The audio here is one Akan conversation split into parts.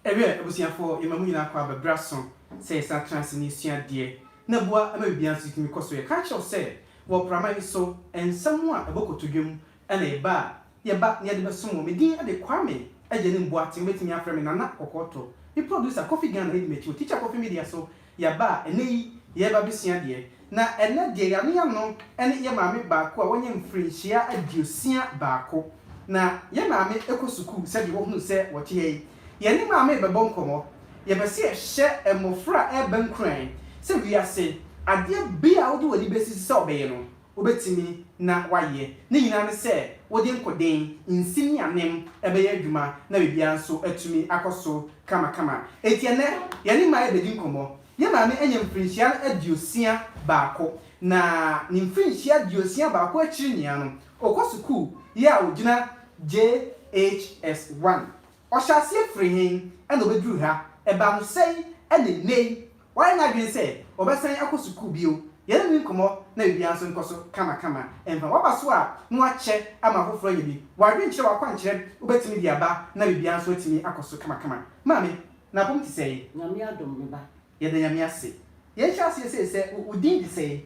Ɛwɛ abusuafoɔ yɛma mo nyinaa kɔ aba berɛ aso sɛ yɛsan tra ase na yɛsua adeɛ na boa ma biribiara nso tumi kɔ so yɛ. Ka kyerɛ wo sɛ wɔ prama yi so nsɛm a ɛbɔ kotodwe mu Ɛna ɛba a, yɛba na yɛde bɛsom wɔn. Me din de Kwame, agya no Mboaten, wobɛtumi afrɛ me Nana Kɔkɔɔtɔ. Me producer, Kofi Ghana, ɛdi m'akyi wɔ Teacher Kofi Media so. Yɛaba a, ɛnnɛ yi, yɛreba abɛsua adeɛ. Na ɛnnɛ deɛ yɛano yɛano ne yɛn maame baako a wanya mfirinhyia aduosia baako. Na yɛn maame kɔ sukuu sɛdeɛ wohunu sɛ wɔte ha yi. Yɛne maame rebɛbɔ nkɔmmɔ. Yɛpɛ sɛ yɛhyɛ mmɔfra a ɛreba nkuran sɛ wiase adeɛ biara a wode w'ani bɛsisi sɛ wobɛyɛ no, wobɛtumi na woayɛ. Ne nyinaa ne sɛ wode nkoden nsi ne anem bɛyɛ adwuma na biribiara nso atumi akɔ so kamakama. Enti ɛnnɛ, yɛne mmaa rebɛdi nkɔmmɔ. Yɛn maame anya mfirinhyia aduosia baako, na ne mfirinhyia aduosia baako akyiri nyinaa no, ɔkɔ sukuu yɛ a ɔgyina JHS 1. Ɔhyɛɛ aseɛ firi he na ɔbɛduru ha? Ɛbaa no sɛn na nnɛi wayɛ n'adwene sɛ ɔbɛsan akɔ sukuu bio? Yɛne no nkɔmmɔ na biribiaa nso nkɔ so kamakama. Mfa w'aba so a na woakyɛ ama afoforɔ anya bi. W'adwenkyerɛ, w'akwankyerɛ wobɛtumi de aba na biribiaa nso atumi akɔ so kamakama. Maame, n'apɔm te sɛn? Nyame adom, me ba. Yɛda Nyame ase. Yɛnhyɛ aseɛ sei sɛ wo din de sɛn?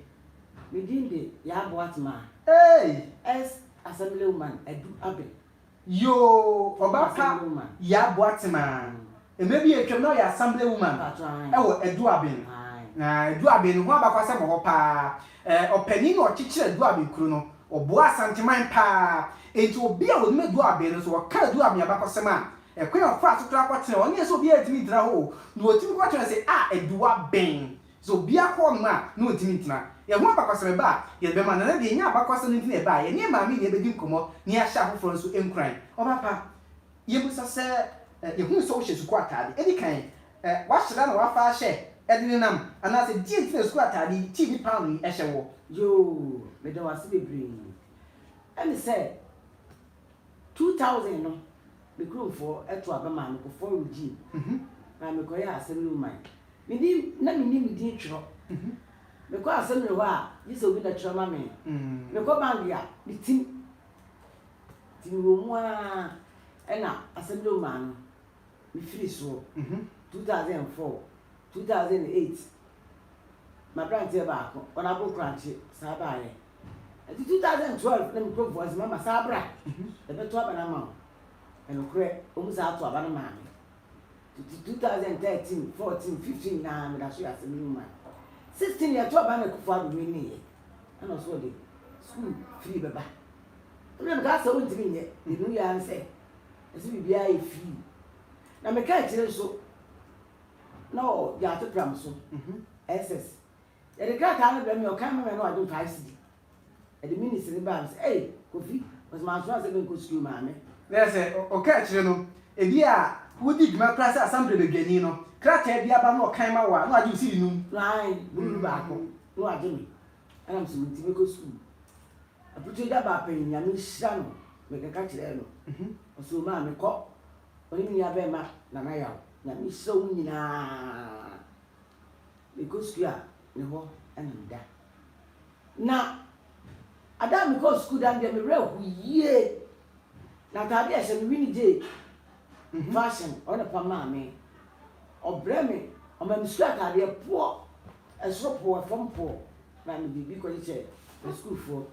Me din de Yaa Boatmaa. Eei! Ex-Assemblywoman Adu Abel. Yoo ɔba pa Yaa Boatsem aa. Mber bi a etwa mu na ɔyɛ Assembly woman wɔ Eduaben. Na Eduaben no ho abakwasɛm wɔ hɔ paa. Ɛɛ ɔpanyin na ɔkyekyeer Eduaben kuro no. Ɔboaa Asanteman paa. Enti obi a onim Eduaben no so ɔka Eduaben abakɔsɛm a, ɛkwan a ɔfaa so koraa kɔtenaa hɔ, ɛnnyɛ sɛ obiara ntumi ntra hɔ o, na otumi kɔtenaa se ah Eduaben. Sɛ obiara kɔ hɔnom a, na ontumi ntena. Yɛn ho abakɔsɛm reba a, yɛde bɛma no. Ɛnnɛ deɛ, yɛnyaa abakɔsɛm nti na yɛbaeɛ. Yɛne yɛn maame nyinaa bɛdi nkɔmmɔ na yɛahyɛ afoforɔ nso nkuran. Ɔbapa, yɛmmisa sɛ, Yɛhunu sɛ wohyɛ sukuu ataade. Ɛdi kan, woahyɛ da na woafa ahyɛ de nenam? Anaasɛ deɛn nti na sukuu ataade yi, tii ne paano yi, hyɛ woɔ? Yoo, meda wo ase bebree. Ɛne sɛ. Two thousand no, me kuromfoɔ too aba maa me kɔfɔɔ regime maa me kɔyɛɛ assembly woman. Me din, na mennim me din twerɛ. Me kɔ assembly hɔ a, gye sɛ obi na twerɛ ma me. Me kɔ bank a, me tim. Nti me wɔ mu ara ɛna assembly woman no, me firi soɔ. Two thousand and four, two thousand and eight, m'aberanteɛ baako, ɔno aboro korankye, saa baeɛ. Enti two thousand twelve na me kura voice ma ma saa bra yɛ bɛ to aba no ama wo ɛnokorɛ ɔmu saa to aba no maa me titi two thousand thirteen fourteen fifteen naa me da so yɛ asɛm no ma sixteen yɛ to aba na kufu ado me ne yɛ ɛna ɔso ɔde school free bɛba ɛna me ka sɛ wo ntimi nyɛ yɛ no yɛ ansɛ ɛsɛ biribiara yɛ free na me ka akyire nso na ɔ gya ato pram so ɛsɛs. Yɛde krataa no brɛɛ me a ɔkae ma me a na wagye ɔtɔ ICD. Ɛde minutes no baa me sɛ, Ei, Kofi, ɔse mansoma sɛ menkɔ sukuu maa me. Bɛyɛ sɛ ɔka akyire no, ebi a wodi dwuma koraa sɛ Asamble badwani no, krataa bi aba na ɔkae ma wo a na wagye wo sidi num. Ae, bururu baako na wagye me. Ɛna me se me nti mɛkɔ sukuu. Aputu agya baa panyin, Nyame nhyira no, mekeka kyerɛɛ no. Ɔse o maame kɔ, ɔne me nua bɛɛma Nana Yaw, Nyame nhyira wɔn nyinaa. Mekɔsukuu a, ne hɔ na meda. Na ada a mekɔɔ sukuu da no deɛ, me werɛ ho yie. Na ataadeɛ a ɛhyɛ me, Winnie Jay fashion, ɔno na ɔfa maa me. Ɔbrɛ me, ɔma me sukuu ataadeɛ poɔ, ɛsoro poɔ, fam poɔ. Na me de bi kɔkyekyɛ me sukuufoɔ.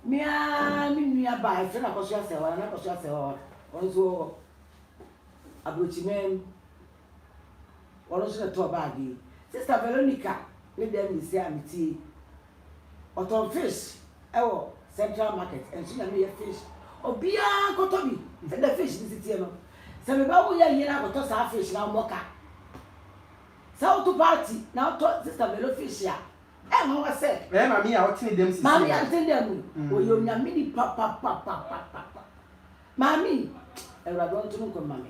Me ara me nua baa, yɛfrɛ no Akɔso Asɛwaa, Nana Akɔso Asɛwaa, ɔno nso wɔ Aburokyiman mu. Ɔno nso na ɛtɔɔ bag yi. Sister Veronica ne dɛm ne sei a mete yi, ɔtɔn fish wɔ Central Market, nso na meyɛ fish. Obiara nkɔtɔ bi. Sɛdeɛ fish no si teɛ no, sɛ me ba wo yɛ yere akɔtɔ saa fish no a, ɔmmɔ ka. Sɛ woto party na wotɔ Sister Vero fish a, ɛnwanwa sɛ. Ɛyɛ maame yi a ɔtene dɛm sisi yi a. Maame yi a ɔtene dɛm yi, ɔyɛ Onyame nipa papapapapapa. Maame yi, Awurade ɔnto no nkwa mma me.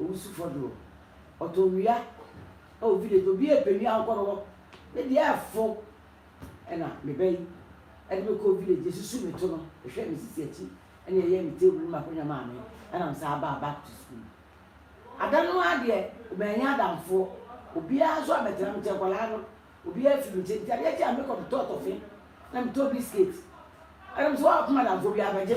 Owusufo do, ɔtɔnwia, oh video to obiara pɛ nua ɔnkɔ no hɔ, me deɛ ɛfo ɛna me ba yi ɛde me kɔɔ village esusu me to no ɛhwɛ me sisi akyi ɛna ɛyɛɛ me table ne m'akonwa maa me ɛna me saa baa back to school ada no ara deɛ mɛnyɛ adamfoɔ obiara nso abɛtena me kyɛ nkwadaa no obiara fi me kyɛ nti adeɛ kye a mekɔ metɔ tɔfe na metɔ biscuit ɛna me sɛ wɔn akoma adamfoɔ bi abɛgye.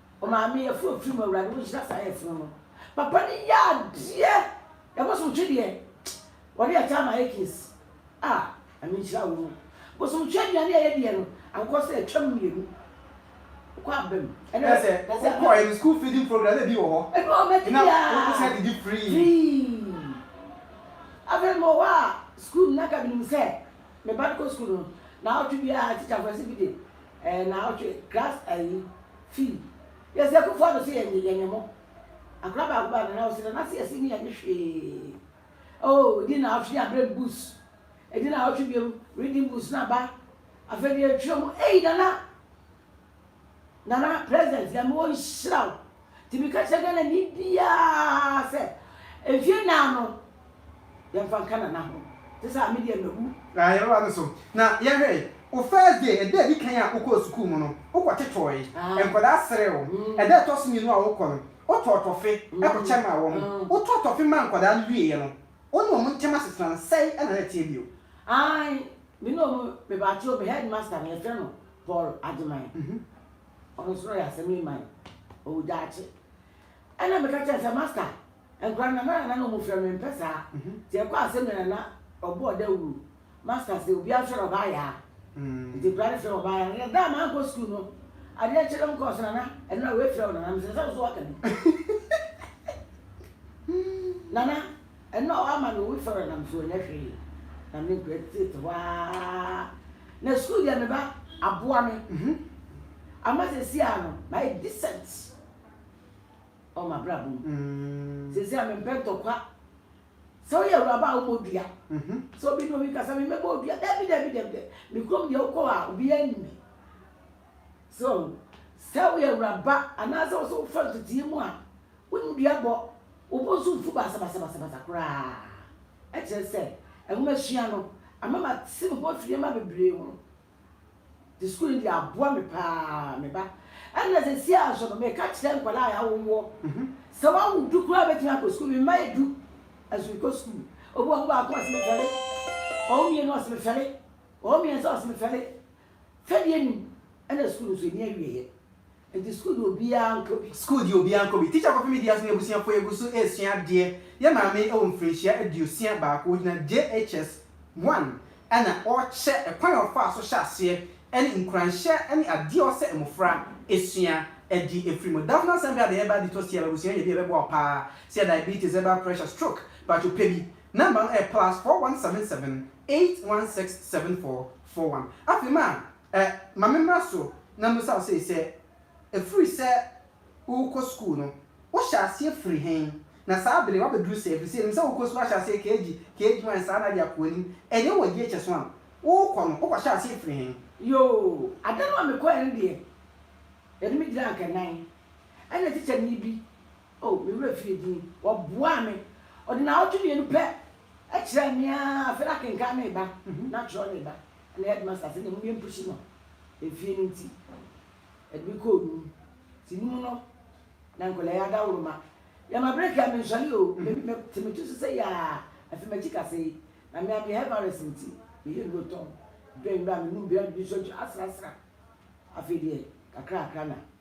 O Maame yɛfrɛ ofiri mu Awurade wonhyira saa yɛfunu no papa no yɛ adeɛ ɛbosomtwe deɛ wɔde akyɛ ama yɛ case a ɛme nhyira wo mu bosomtwe aduane a yɛdeɛ no ankɔ sɛ atwam mmienu wokɔ abam ɛnɛ sɛ wokɔ ɛm school feeding program na ebi wɔ hɔ ebi wɔ mɛte bi a wokɔ sɛ didi free free afei mɔ hɔ a school na kabinim sɛ meba no kɔ school no na awɔtwe bi a tikyafoɔ ɛsɛ bi de Ɛɛ naawɔtwe class ayi fii yɛsi akufo ado sɛ yɛnye yɛnye mo akora baako baa nana ɔsi nana si yɛsi ne yɛnye hwee oh edi naawɔtwe ne abere bus edi naawɔtwe biom reading bus na ba afei deɛ yɛtwerɛ mu ei nana nana president nyame wɔnhyira wo. Nti meka kyerɛ Ghanani biaa sɛ mfie nnan no yɛmfa nka Nana ho. Gye sɛ a me deɛ mawu. Aah yɛbɛba no so. Na yɛnhwɛ, wo first day, ɛda a ɛdi kan a wokɔɔ sukuu mu no, wokɔ totɔɔe. Aah. Nkwadaa seree wo. Mm. Ɛda a ɛtɔ so mmienu a wokɔ no, wotɔɔ tɔfe kɔkyɛ maa wɔn. Mm. Wotɔɔ tɔfe maa nkwadaa no wieeɛ no, wo ne wɔn ntam asetena no, sɛe na na ɛteɛ bio? Aane, me ne wɔn, me ba akyire o, me headmaster no, yɛfrɛ no Paul Agyeman. Mhm. Ɔno nso na ɔyɛ asɛm yi mae. Ɔwu daakye. Ɛnna meka kyerɛɛ no sɛ, Master, nkwadaa no, Nana Nana na wɔfrɛ me. Mempɛ saa. Nti ɛkɔɔ asɛm yɛ Nana, ɔbɔɔ dawuru. Master se, obiara nhwɛ no, ɔbaa yaa. Nti nkwadaa no frɛ me ɔbaa yaa. Na da a mankɔ sukuu no, adeɛ kye no, mekɔɔ so, Nana, nnora wei frɛ wo Nana. Mese, Sɛ wo nso woaka bi. Nana. Ɛno a wama no wusɔre nam so ɔnyɛ hwee na me nkura tete hɔ aa na school deɛ me ba aboa me mhm ama sɛsi a no mayɛ decent ɔ ma bra bom mm. sɛsi a me mpɛ ntɔkwa sɛ woyɛ awuraba a wobɔ dua mhm. sɛ obi ne obi kasa me mɛbɔ odua dabi dabi dabi dabi me kurom deɛ wokɔ a obi anim me so sɛ woyɛ awuraba anaasɛ wo so wofa ntetee mu a Wo ndua bɔ wo bo nso mfu basabasabasabasa koraa. Ɛkyerɛ sɛ nwomasua no ama mate me ho afiri nneɛma bebree ho. Te sukuu no deɛ aboa me pa ara, me ba. Ɛnna seesei ara nso no, meka kyerɛ nkwadaa a yɛawo woɔ sɛ woawo du koraa a wobɛtumi akɔ sukuu. Me mma yɛ du, nanso mekɔ sukuu. Obi wɔ hɔ, ɔwo baako ɔse mefɛre, ɔwo mmienu ɔse mefɛre, ɔwo mmiɛnsa ɔse mefɛre. Third year nim ɛna school nso ɛni awieɛ nti school deɛ obiara nkɔ bi. School deɛ obiara nkɔ bi. Teacher Kofi Mideas ne abusuafoɔ yɛgu so ɛresua adeɛ yɛ maame ɛwɔ mfirinhyia aduosia baako ɔgyina JHS one ɛna ɔrekyɛ ɛkwan a ɔfaa so hyɛ aseɛ ɛne nkuranhyɛ ɛne adeɛ a ɔsɛ mmɔfra ɛsua ɛde ɛfiri mu Daphna Sɛnpɛ Adɛɛ ɛba Adetɔ Siaba abusua nya bi a ɛbɛboa wo paa sɛ diabetes ɛba pressure stroke patwo pɛ bi number no ɛyɛ plus four one seven seven eight one six seven four for one. Afei ma ɛ, ma me mmra so na mmisa wo sei sɛ, Ɛfiri sɛ worekɔ sukuu no, wohyɛ aseɛ firi he? Na saa bere woabɛduru sɛɛ? Ɛfiri sɛ yɛnim sɛ worekɔ sukuu ahyɛ aseɛ KG, KG one saa na ade akɔ anim. Ɛdeɛ wowɔ JHS one, worekɔ no, wokɔhyɛɛ aseɛ firi he? Yoo, ada no a mekɔeɛ no deɛ, yɛde me gyinaa nkannan, ɛnna tikyani bi Oh, me werɛ fii din. Wɔboaa me. Ɔde nnawɔtwe mmienu pɛ kyerɛɛ me a, afei na akenkan no reba, na atwerɛ no reba. Ɛna headmaster sɛ, Mmom yɛmpuhyi no efie no nti, ɛde me kɔɔ num. Nti num no, na nkwadaa yi adaworoma. Yɛma break a, mensɔre o. Me, mete me ti so sɛ yaa, afei m'akyi kasa yi. Na me ara meyɛ head virus nti, meyɛ nnuro tɔn. Dwɛn berɛ a menum biara de bi nso asrasra. Afei deɛ, kakrakra na.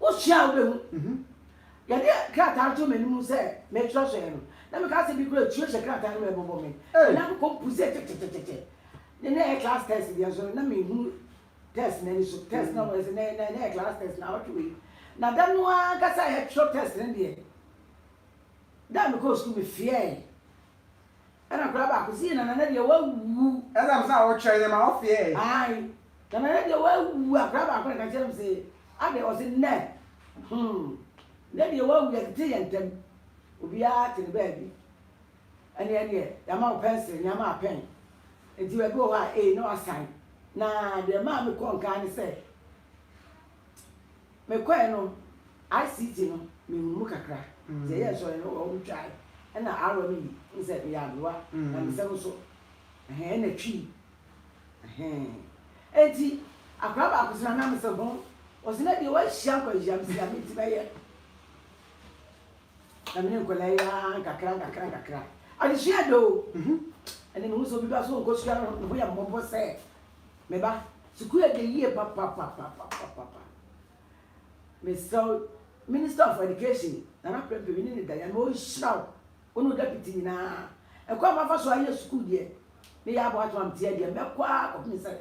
Wosua a, wobɛhu. Yɛde krataa no too m'anim sɛ meretwerɛ so ɛ no, na meka asɛm bi koraa a, tuo hyɛ krataa no mu ɛbobɔ me. Ei! Na mekɔ mpu sɛ kyɛkyɛkyɛkyɛ. Na na ɛyɛ class test deɛ nso no, na menhunu test no ani so. Test no a wɔyɛ sɛ na na ɛyɛ class test no awɔtwe wei. Na da no ara ankasa a yɛtwerɛ test no deɛ, da a mekɔɔ sukuu mefeɛɛe. Ɛna akwadaa baako se, Nana na deɛ wawu. Ɛna mo sɛ a ɔkyerɛ yɛ ma ɔfeɛ ɛ. Ae, Nana na deɛ wawu. Akwadaa baako na ɛka kyerɛ no se, Adɛn? Ɔse, Nnɛ, hmm, na deɛ wawu, yɛtete yɛn ntam. Obiara te ne baabi. Ɛneɛ deɛ, yɛama wo pɛnsere, na yɛama wo pɛn. Nti baabi wɔ hɔ a, ee, na wasan. Na deɛ ɛmaa mekɔɔ nkaa ne sɛ. Mekɔe no ICT no mehu mu kakra nti ɛyɛ nsɔre no wɔn twae ɛna Aaron no yi ne sɛ meyɛ aberewa na me nsam nso ɛhɛn ɛna twii ɛhɛn ɛnti akwadaa baako sɛ nana mese ho ɔse na deɛ wahyia nkwanhyia mese nyame nti mɛyɛ na mene nkwadaa yi ara nkakra nkakra nkakra adesua dɛ o ɛne mehu sɛ obi ba so ɔnkɔ sukuu no ho yɛ mmɔbɔ sɛ Me ba, sukuu yɛ den yie papapapapapa. Mesrɛ wo, Minister of Education, Nana Prempeh, me ne no da yi a, ma ɔnhyira wo, wo ne wo Deputy nyinaa. Ɛkwan a mafa so ayɛ sukuu deɛ, ne yɛ aboatom a meteɛ deɛ, mɛkɔ ara kɔpem sɛ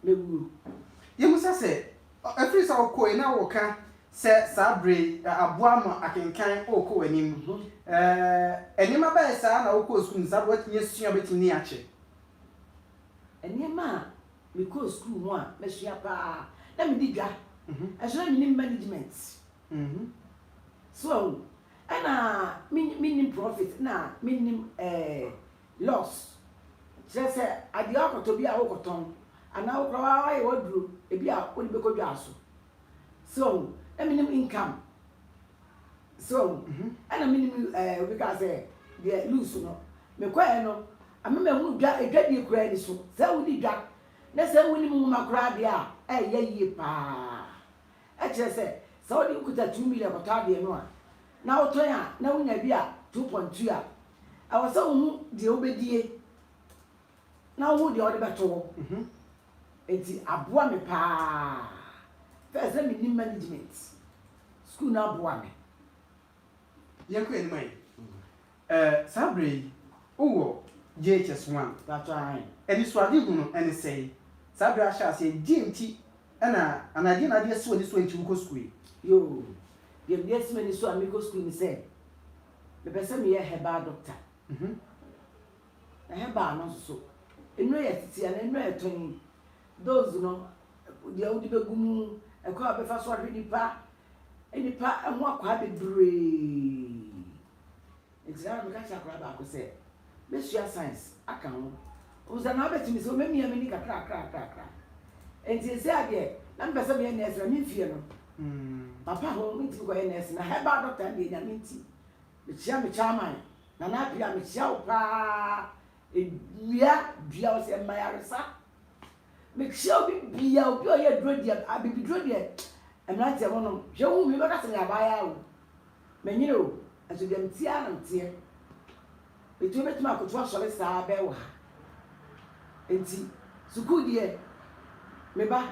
mɛwuo. Yɛhu sɛ sɛ, ɛfiri sɛ wokoe na woka sɛ saa berɛ yi aboa ama akenkan rekɔ w'anim. Nneɛma bɛn saa na wokɔɔ sukuu no saa berɛ yi, woatumi asua, wobɛtumi ani akyɛ? Nneɛma a mekɔɔ sukuu ho a masua paa, na medi dwa, nanso na mennim management. So ahu? Ɛna mennim profit, na mennim loss. Kyerɛ sɛ, adeɛ a wokɔtɔ bi a wokɔtɔn, anaa wo koraa woayɛ w'aduro, ebi a wode bɛkɔ dwa so. So ahu? Na mennim income. So ahu? Ɛna mennim, obi kaa sɛ, deɛ loose no. Mekɔeɛ no, Ama mahunu dwa, edwa die koraa nni so. Sɛ wodi dwa, na sɛ wunim nwoma koraa deɛ a, ɛreyɛ yie pa ara. Ɛkyerɛ sɛ, sɛ wode wokuta two million kɔtɔ adeɛ no a, na wotɔn a, na wunya bi a two point two a, ɛwɔ sɛ wohu deɛ wobɛdie, na wohu deɛ wode bɛto hɔ. Enti aboa me pa ara. First, na mennim management. Sukuu no aboa me. Yɛnkɔ anim ayi. Ɛɛ, saa berɛ yi, wowɔ JHS one. Paatɔ ahe? Anisoadehu no, ɛne sɛn? Saa berɛ a ahyɛ aseɛ yi, deɛ nti na, anaa deɛ na ade asi w'ani so a nti wokɔ sukuu yi? Yoo, deɛ ade asi m'ani so a mekɔ sukuu yi ne sɛ, mepɛ sɛ meyɛ herbal doctor. Na herbal no nso so, nnuro yɛ tete anaa nnuro a yɛtɔn yi, dose no, deɛ wode bɛgu mu, ɛkwan a wobɛfa so ahwɛ nipa, nnipa ho akwaa bebree. Nti saa na meka kyerɛ akwadaa baako sɛ, Bɛsua science aka ho. Ɔhu sɛ na abɛtumi sɛ ɔmɛmia m'ani kakrakrakra. Nti sɛsɛ adeɛ, na mepɛ sɛ meyɛ nɛɛse na memfie no. Hmm. Papa ho mentumi kɔyɛ nɛɛse na herbal doctor no deɛ nyame nti. Mekyea me chairman, Nana Apia, mekyea wo paa. Edua dua wo sɛ mma yaresa. Mekyia obi bia obi ɔyɛ aduro deɛ abibiduro deɛ mmeranteɛ mo nom hwɛ wohu me bɛka sɛ meyɛ abaayaa o menyere o nso deɛ meteɛ ara na meteɛ metumi bɛtumi akoto asɔre saa bɛɛ wɔ ha nti sukuu deɛ me ba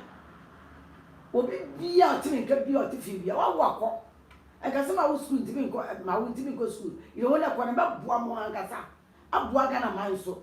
obi bia ɔte me nka bia ɔte fie bia wawo akɔ ɛka sɛ ma wo sukuu ntumi nkɔ ma wo ntumi nkɔ sukuu yɛ wo na ɛkɔ no bɛboa mo ankasa aboa Ghana man nso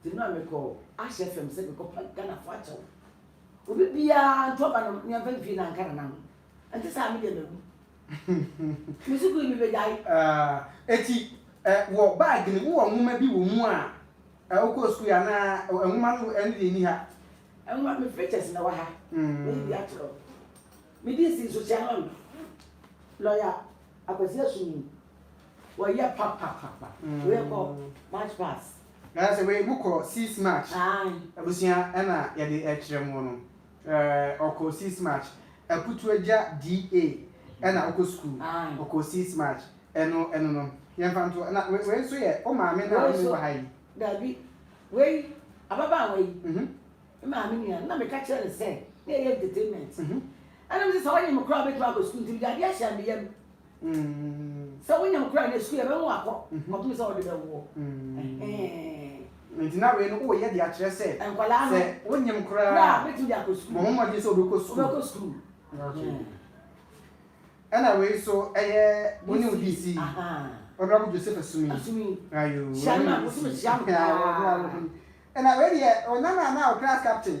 Nti mmerɛ a mekɔɔ Ahyɛ FM sɛ mekɔpa Ghanafoɔ akyɛw, obi biara nto aba no nea mfa mpie na anka nana ho. Ɛnte saa a me deɛ mawu. Me sukuu yi mebɛgyae. Ah, eti ɛ, wɔ bag no, wowɔ nwoma bi wɔ mu a ɛ, wokɔɔ sukuu yi anaa ɛ, ɛ, nwoma no ɛno deɛ nni ha? Nwoma, me pictures na ɛwɔ ha. Mayi bi akyerɛ wo. Me DC nso, Sianon, lɔya Akwasi Asum yi, Wɔyɛ papapapa wei kɔ march pass. Ɛɛ sɛ wei mo kɔ six march. Aai. Abusua ɛna yɛde ɛkyerɛ mo no ɛɛ ɔkɔ six march akutu agya DA ɛna ɔkɔ school ɔkɔ six march ɛno ɛno no yɛn fa nto ɛna wei wei nso yɛ o maame na ɔne wɔ ha yi. Dabi wei ababaawa yi me maame nua na meka kyerɛ no sɛ na ɛyɛ entertainment ɛna me sɛ sɛ ɔnyem koraa ɔbɛtumi akɔ school nti mede adeɛ ahyɛ me yam. sɛ wonya mu kora na sukuu yɛbɛma wakɔ ɔtumi sɛ ɔde bɛwoɔ nti na wei no woyɛ de akyerɛ sɛ sɛ wonyem koraa bɛtumi de akɔ sukuu bɔ ho mmɔden sɛ wobɛkɔ sukuu ɛna wei so ɛyɛ wone wo dc ɔnrabo joseph asumi ɛna wei deɛ ɔnana na wo class captain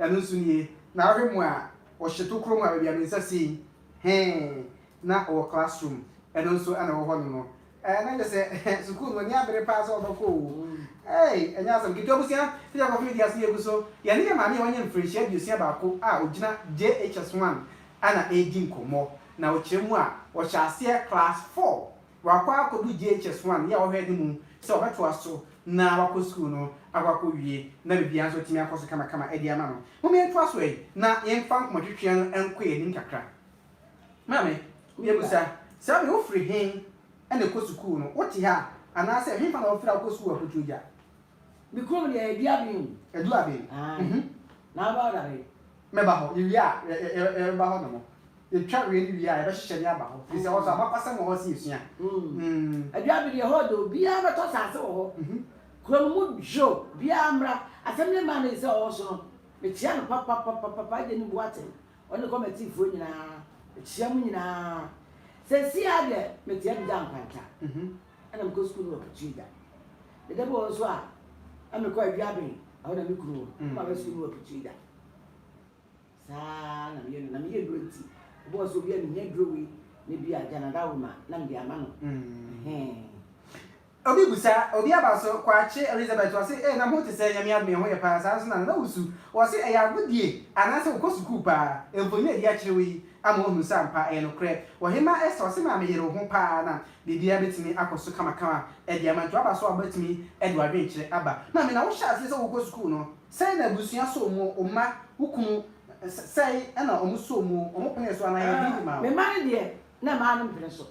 Ɛno nso nie, na wohwɛ mu a, ɔhyɛ tokuro mu a baabi a me nsa si yi, hee, na ɔwɔ class room, ɛno nso na ɛwɔ hɔ nom no. Ɛɛ, na kyerɛ sɛ sukuu no w'ani abere paa sɛ wobɛkɔ o. Eei, ɛnyɛ asɛm ketewa. Abusua, sɛdeɛ nkorɔfo no di aso yɛ gu so, yɛne yɛn maame a wanya mfirinhyia aduosia baako a ɔgyina JHS 1 na ɛredi nkɔmmɔ, na ɔkyerɛ mu a, ɔhyɛɛ aseɛ class four Wakɔ akɔdu JHS one yɛ a ɔhwɛ anim sɛ ɔbɛtoa so na wakɔ sukuu no akɔ akɔwie na biribiara nso atumi akɔ so kamakama de ama no. Mom yɛntoa so ɛi na yɛmfa nkɔmmɔtwetweɛ no nkɔ yɛn anim kakra. Maame, yɛbisa, saa berɛ yi wofiri he na ɛkɔ sukuu no? Wote ha a? Anaasɛ hefa na wofiri a wokɔ sukuu akɔtu gya? Me kurom deɛ ɛdu aben o. Ɛdu aben. Ae. Na aba hɔ dare. Mɛba hɔ. Yɛwie a yɛbɛba hɔ nom. Yɛtwa wei no wie a yɛbɛhyehyɛ ne aba hɔ. Firi sɛ hɔ nso abakɔsɛm wɔ hɔ ɛsɛ yɛsua. Ɛdu aben deɛ hɔ yɛ dɛ o. Biara bɛtɔ asase wɔ hɔ. Kuro no mu dwo. Biara mmra. Asɛm ne maa no sɛ ɔwɔ so no, mekyia no papapapapa, Agye Nni Boateng, ɔne kɔmɛtiifoɔ nyinaa. Mekyia mo nyinaa. Seesei ara deɛ, mekyia Adagya Nkwanta. Ɛna mekɔ sukuu no wɔ Kitui da. Ne da bi wɔ hɔ nso a na mekɔ Aduaben, ɛhɔ na me kunu wɔ. Mm. Maba sukuu no wɔ Kitui da. Saa na meyɛ no, na meyɛ nnuro nti, wobɔɔ sɛ obi a mehia duro wei na bi a Gyanadawo ma na mede ama no. Mm. Obi busa, obi aba so, Kwakye Elizabeth, ɔse, ee na mo ho te sɛ Nyame adom ɛho yɛ paa, saa nso na Nana wusu, ɔse ɛyɛ agodie anaasɛ wokɔ sukuu paa, mfonini a ɛdi akyire wo yi ama woahunu sɛ ampa ɛyɛ nokorɛ, Ɔhemaa Esther, ɔse maame yere wo ho paa na Biribiara betumi akɔ so kamakama de ama. Nti waba so a wobetumi de w'adwenkyerɛ aba. Maame, na wohyɛɛ aseɛ sɛ wokɔ sukuu no, sɛn na abusua sɔɔ mu? Wo mma, wo kunu, sɛn na wɔn sɔɔ mu? Wɔn penee so anaa yɛɛ biribi maa wɔn? Me mma no deɛ, na mmaa no mpene so.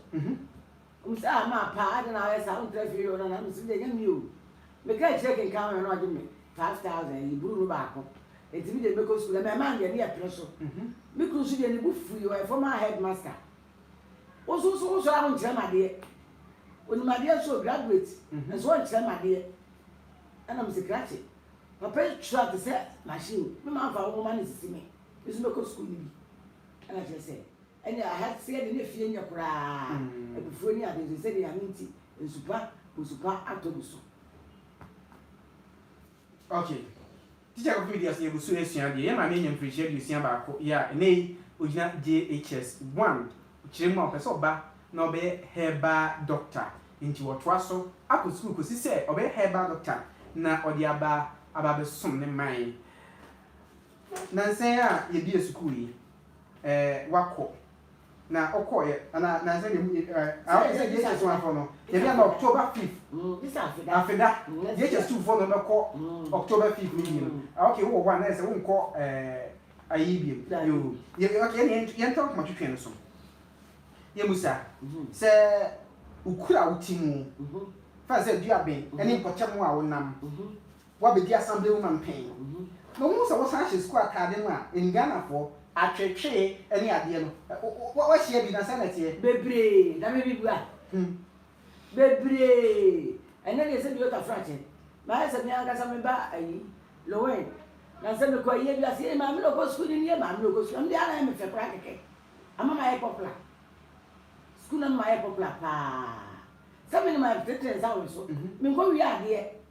Wɔn se, Ah, maa pa, adɛn na woayɛ saa? Wontra fie o, nana. Mese, Deɛ, ɛnyɛ me o. Meka akyire kenkan ho no, na wɔgye me five thousand, ɛyɛ bruu no baako. Nti me deɛ mɛkɔ sukuu. Na mmarima no deɛ, ne yɛ pene so. Me kunu nso deɛ, ne bo fui, ɔyɛ former headmaster. Wo nso so wosɔre a wonkyerɛ me adeɛ. Onim adeɛ so, graduate, mhm. nso ɔnkyerɛ me adeɛ. Ɛna mese krakye. Papa yi twerɛ te sɛ machine. Me ma mfa wo nwoma no sisi me. Me nso mɛkɔ sukuu no bi. Ɛna kyerɛ sɛ ɛne aha seɛ de ne fie nyɛ koraa. Mm. Abufuo ne ade nso sɛdeɛ ano nti nsupa nsupa atɔ gu so. Okay. Tikya Kofi Medi Asɛm Yɛgu So Resua Adeɛ Yɛn Maame Anya Mfirinhyia Aduosia Baako Yɛ a Ɛnnɛ Yi Ɔgyina JHS 1 Kyerɛ Mu a Ɔpɛ Sɛ Ɔba Na Ɔbɛyɛ Herbal Doctor Enti Watoa So Akɔ Sukuu Kɔsi Sɛ Ɔbɛyɛ Herbal Doctor Na Ɔde Aba Aba Abɛsom Ne Man Nnansa Yi A Yɛbue Sukuu Yi ɛɛ wakɔ na ɔkɔɔɛ ana na sɛ nemu ɛɛ awo sɛ yɛ kyɛ suafo no yɛ bɛ ma October fifth afeda yɛ kyɛ suufo no bɛ kɔ October fifth ne biem ah okay wowɔ hɔ a na yɛ sɛ wo nkɔ ɛɛ ayi biem yoo yɛ okay yɛ yɛ yɛ ntɔ kuma twitwi no so yɛ musa sɛ okura wo ti mu fa sɛ dua bɛn ɛne mpɔtam a wonam wɔabɛdi asamble mu manpanyin na ɔhuu sɛ wɔsan hyɛ sukuu ataade no a Nganafoɔ atwetwee ne adeɛ no. Wo woahyia bi na sɛn na ɛteɛ? Bebree, na me mebua. Hmm. Bebree. Ɛnnɛ deɛ sɛ meyɛ Kafrakye, mayɛ sɛ me ankasa me ba ayi, Lowen. Na sɛ mekɔ ayie bi ase, ee maame na ɔkɔ sukuu no nie, maame na ɔkɔ sukuu. Ɛno deɛ ara na ɛyɛ me fɛ koraa kɛkɛ. Ama mayɛ popular. Sukuu no ama mayɛ popular paa. Sɛ me na matete nsa wɔ me so, menkɔwie adeɛ.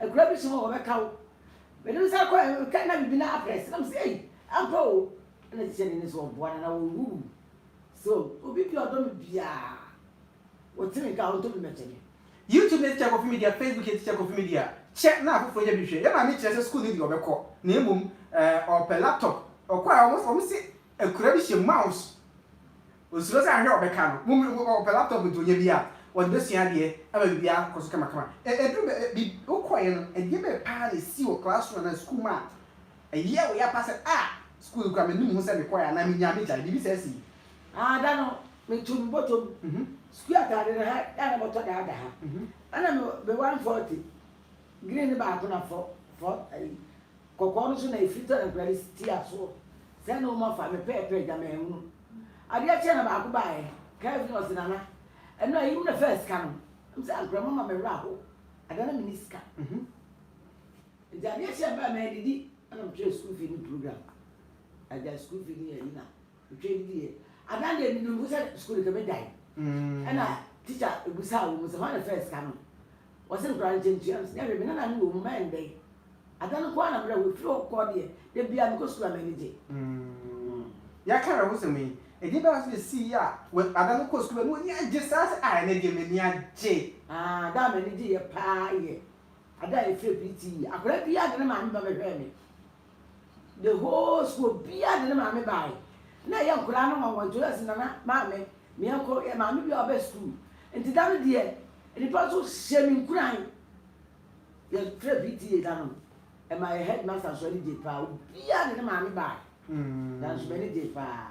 Akuraa bi som a wɔbɛka wo. Mede me nsa kɔe no, na biribi no abrɛ ase, na mese, Ei, ampa o! Ɛnna ɛsɛ sɛ n'ani so ɔboa no, anaa ɔrewuwu. So obi bi a ɔdɔ me biara, ɔte me nka a, ɔntɔ bi mmɛkyɛ me. YouTube ne Teacher Kofi Media Facebook ne Teacher Kofi Media Kyɛ na afoforo nya bi hwɛ. Yɛn maame kyerɛ sɛ sukuu no deɛ ɔbɛkɔ, na mmom ɔrepɛ laptop. Ɔkɔe a, wɔse akuraa bi hyɛ mouse Ɔnsuro sɛ ahwɛ a ɔbɛka no mom ɔpɛ laptop nti ɔnya bi a ɔde bɛsua adeɛ ama biribiara akɔkɔ so kamakama. Ɛduru bɛ bi wokɔeɛ no ɛdeɛ bɛn paa na ɛsii wɔ classroom anaa school mu a ɛyɛɛ wo ya paa sɛ ah school no koraa mennim ho sɛ mekɔeɛ anaa menyaa megyae biribi saa sii? Ah da no meto me bɔtɔ mu school ataade no ha a na bɔtɔ da da ha ɛna me one forty green no baako na fɔ fɔ ayi. Kɔkɔɔ no so na ɛfiri tɔ na Awurade te asoɔ. Sɛɛ na ɔma fa me pɛɛpɛɛ gya manhunu. Adeɛ kyeɛ na baako baeɛ, Kelvin ɔse Nana, ɛno a, yim na faa sika no. Na mese ankorɛ mama me werɛ aho, ada na menni sika. Nti adeɛ kyeɛ baeɛ, madidi, ɛna mehwɛɛ school fee no program. Agyae school fee no yɛ Yina. Dwen deɛ Ada deɛ menim ho sɛ school no kɛmɛ dan ɛna teacher ɛbusaa wɔ mu sɛ hwan na fɛɛ sika no wɔ se nkora no nkyɛ ntua no nyɛ hwɛ me nana no wɔ mu mɛ ndɛn Ada no nkoaa na mbrɛ ho firi hɔ kɔɔ deɛ da biaa mekɔ school a mɛ anigye. Yɛaka awerɛhosɛm yi, ɛdeɛ bɛn ara nso na ɛsiiɛ a Ada no kɔɔ school a na w'ani agye saa sɛ ah ɛnɛ deɛ m'ani agye. Ah da a m'ani gyeeɛ paa yɛ Ada a yɛfrɛ Pretty yi, akwadaa biaa de ne maame ba bɛhwɛɛ me. The whole school obiaa de ne maame baaɛ na ɛyɛ nkwadaa no nwanwa nti ɔyɛ se nana maame meɛnkɔ yɛ maame biaa ɔbɛ school nti da no deɛ nnipa nso hyɛ me nkuran yɛ frɛ PTA da no ɛma yɛ headmaster nso ani gyee paa obiaa de ne maame baaɛ da nso m'ani gyee paa.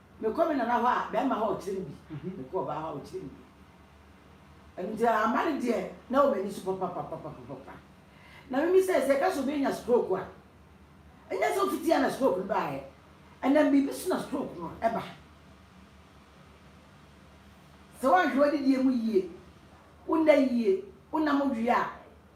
Mekɔ me nana hɔ a bɛrima hɔ a ɔkyerɛ me bi, mekɔ ɔbaa hɔ a ɔkyerɛ me bi. Ɛno nti ama no deɛ na wɔ m'ani so papapapapapa. Na memisae sɛ ɛka sɛ obi anya stroke a, ɛnyɛ sɛ ofiti a na stroke no baeɛ, ɛnam biribi so na stroke no ɛba. Sɛ woanhwɛ w'adidie mu yie, wonna yie, wonna modwe a,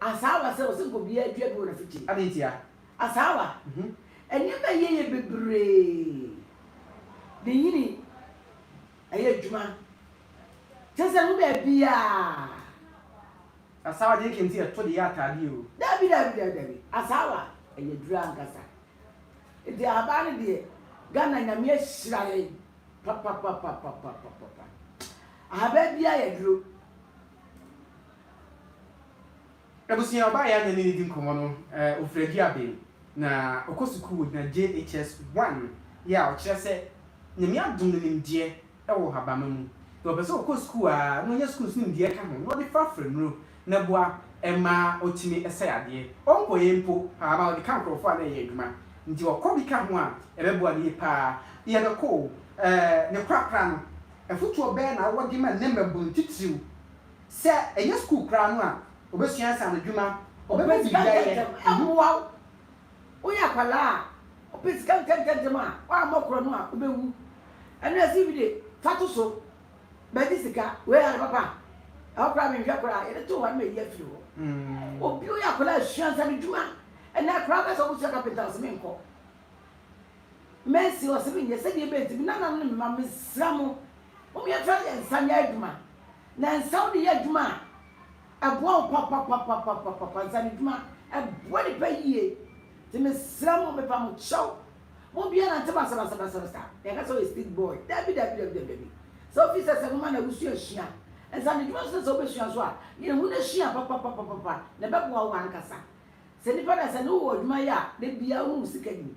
Asaawa sɛ ɔsɛ nka obiara dua bi wɔ n'afikyiri. Adɛn ntia? Asaawa, Nneɛma a ɛyɛ yɛ bebree de nyini, ɛyɛ adwuma, kyerɛ sɛ ɛho baabiara. Asaawa, Deɛ ɛka nti a ɛto de yɛ ataadeɛ o. Dabi, dabi, dabi, dabi. Asaawa, Ɛyɛ aduro ankasa. Nti ahabaa no deɛ, Ghana Nyame ahyira yɛn papapapapapapapa. Ahabaa biara yɛ aduro. Ebusua ɔbaa yɛ a na menedi nkɔmmɔ no ofiri Aduaben na ɔkɔ sukuu wɔ gyina JHS one yɛ a ɔkyerɛ sɛ Nyame adom no nimdeɛ wɔ habama mu na ɔpɛ sɛ ɔkɔ sukuu a na ɔnya sukuu so nimdeɛ ka ho na ɔde fa fra nnuro na boa ma ɔtumi sɛ yadeɛ ɔnkɔyɛ mpo paa ma ɔde ka nkorɔfoɔ a na ɛyɛ adwuma nti ɔkɔ bi ka ho a ɛbɛboa no yie paa yɛbɛkɔ o ɛɛ ne korakora no afotuo bɛɛ na wode ma nnɛ mmabunu titiriw Sɛ ɛnyɛ sukuu koraa no a, obesua nsaanodwuma, ɔbɛpɛ biribi ayɛ. Mmoa wo. Woyɛ akwadaa a, ɔpɛ sika ntɛmntɛmntɛm a, woammɔ korɔ no a, wobɛwu. Ɛno na ɛse bi de, fa to so, bɛgye sika. Wei ade papa a, ɛhɔ koraa menhwɛ koraa, yɛde too hɔ a na mayi afiri hɔ. Obi woyɛ akwadaa a, sua nsaanodwuma. Ɛnnɛ, akwadaa bɛyɛ sɛ wɔbɛsua kapenta, ɔse menkɔ. Mercy, Ɔ sɛ me nyɛ sɛ deɛ ɛbɛyɛ nti, me nananom ne me mma, me srɛ mo, mo me tra yɛ nsa nyɛ adwuma. Na nsa wo de yɛ adwuma a, ɛboa wo papapapapapapa, nsa ne dwuma, ɛboa nipa yie. Nti me srɛ mo, me pa mo kyɛw, mo bia nante basabasabasabasa, yɛ ka sɛ ɔyɛ street boy, dabi dabi dabi dabi dabi. Sɛ wo fi sɛ sɛ mo ma na wo sua sua, nsa ne dwuma nso na sɛ wo bɛ sua nso a, yɛ hu na sua papapapapapa, na ɛbɛboa wo ankasa. Sɛ nipa da sɛ ne wo wɔ adwuma yɛ a, da biara wo ho wo sika nim.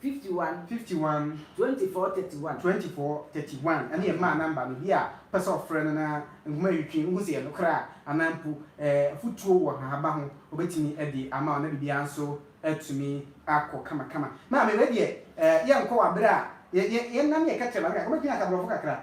Fifty one. Fifty one. Twenty four thirty one. Twenty four thirty one ɛne yɛn maa number no, obi a ɔpɛ sɛ ɔfrɛ no na nhoma a yɛtwitwi wohu sɛ ɛyɛ nokorɛ a anaa mpo ɛɛ afutuo wɔ nhahaba ho ɔbɛtumi ɛde ama wo na biribiara nso atumi akɔ kamakama. Maame wei deɛ ɛɛ yɛnkɔ wɔ aberɛ a yɛ yɛ yɛn nna ne yɛka kyerɛ maame kakra, wobɛtumi aka borɔfo kakra?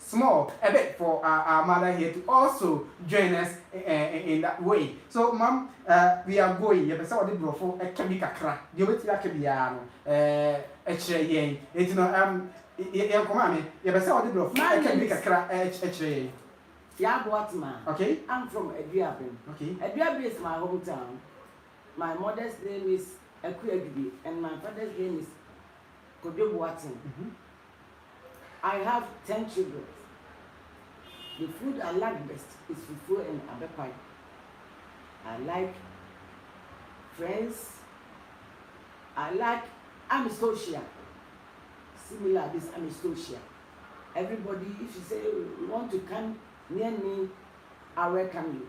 small a bit for our our mother here to also join us in in that way so mom we are going yɛpɛ sɛ wɔde borɔfo ɛka bi kakra deɛ wɔbɛtumi aka biara no ɛkyerɛ yɛn ɛti no yɛn kɔ maame yɛpɛ sɛ wɔde borɔfo ɛka bi kakra ɛkyerɛ yɛn. Sia Boatema. Okay. I'm from Aduabem. Okay. Aduabem is my hometown. My mother's name is Akuadubi and my father's name is Kojo Boateng. Mm -hmm. I have ten children the food I like best is fufuo and abɛkwan I like friends I like amistosia similar this amistosia everybody if you say you want to come near me I welcome you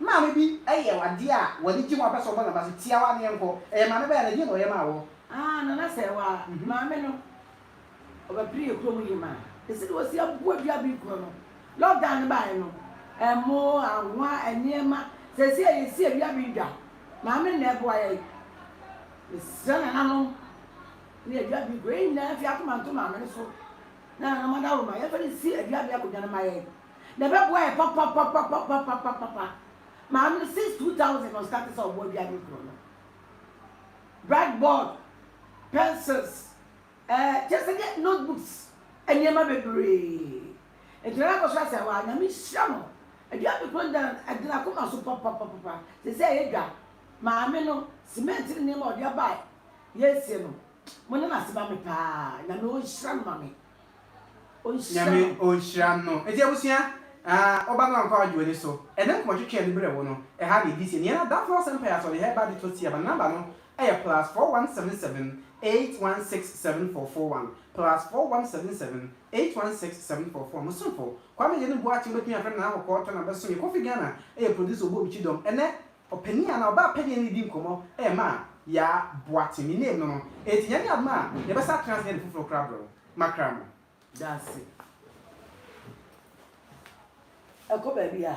Maame bi yɛ wo adeɛ a w'ani gye ho a wopɛ sɛ ɔbɔ n'aba so, tia w'ano yɛnkɔ. Ɛyɛ maame ba yɛ no, ɛdeɛn na ɔyɛ maa wɔ? Aah Nana sɛ wo ara. Maame no, ɔbɛpere yɛ kurom yie maa. Ɛsi deɛ ɔsi aboa dua bi korɔ no, lockdown no baeɛ no, ɛmo, anwa, nneɛma, seesei a yɛsi adua bi dwa, maame na ɛboa yɛn. Mesrɛ nananom ne adua bi korɔ, yɛn nyinaa mfi akoma nto maame no so na nana mmadaworo ma yɛmfa no nsi adua bi akɔdwa no mma yɛn. Na ɛbɛboa yɛ papapapapapapapa. Maame no since two thousand na ɔstarte sɛ ɔboa dua ne nkuro no. Black board, pencils, ɛɛ eh, kyɛ sɛ deɛ notebooks, nneɛma bebree. Nti na akɔ so asɛ hɔ a nyame nhyira no. Dua ne nkuro dan ɛde n'akoma so papapapapa. Sɛsɛ ɛyɛ dwa. Maame no cement ne nneɛma ɔde aba a yɛresie no, mo ne no ase ma me paa. Nyame ɔnhyira no ma me. Ɔnhyira Nyame no. ɔnhyira no. Enti abusua, ah, wo ba no amfa w'adwe w'ani so. Ɛnɛ nkɔmmɔ twetwe a ɛde brɛ wo no, ɛha na ɛdi seɛ. Nea na Adamfoɔ Asɛmpa yɛ asoɔden ha yi ba de tɔ tia ma no number no ɛyɛ plus four one seven seven eight one six seven four four one, plus four one seven seven eight one six seven four four one. Mosomfo, Kwame Agyanu Boakye, wobɛtumi afrɛ me Nana Kɔkɔɔ Tana bɛsom yɛ. Kofi Ghana yɛ producer ɔbɔ obi kyidɔm. Ɛnɛ, Ɔpanin anaa ɔbaa panyin ne no redi nkɔmmɔ rema Yaa Boate. Me name no no. Enti Nyame yɛ adom a, yɛbɛsan atena ase ade foforo kora abrɛ wo. Makra no. Dase. Ɛkɔ baabi a.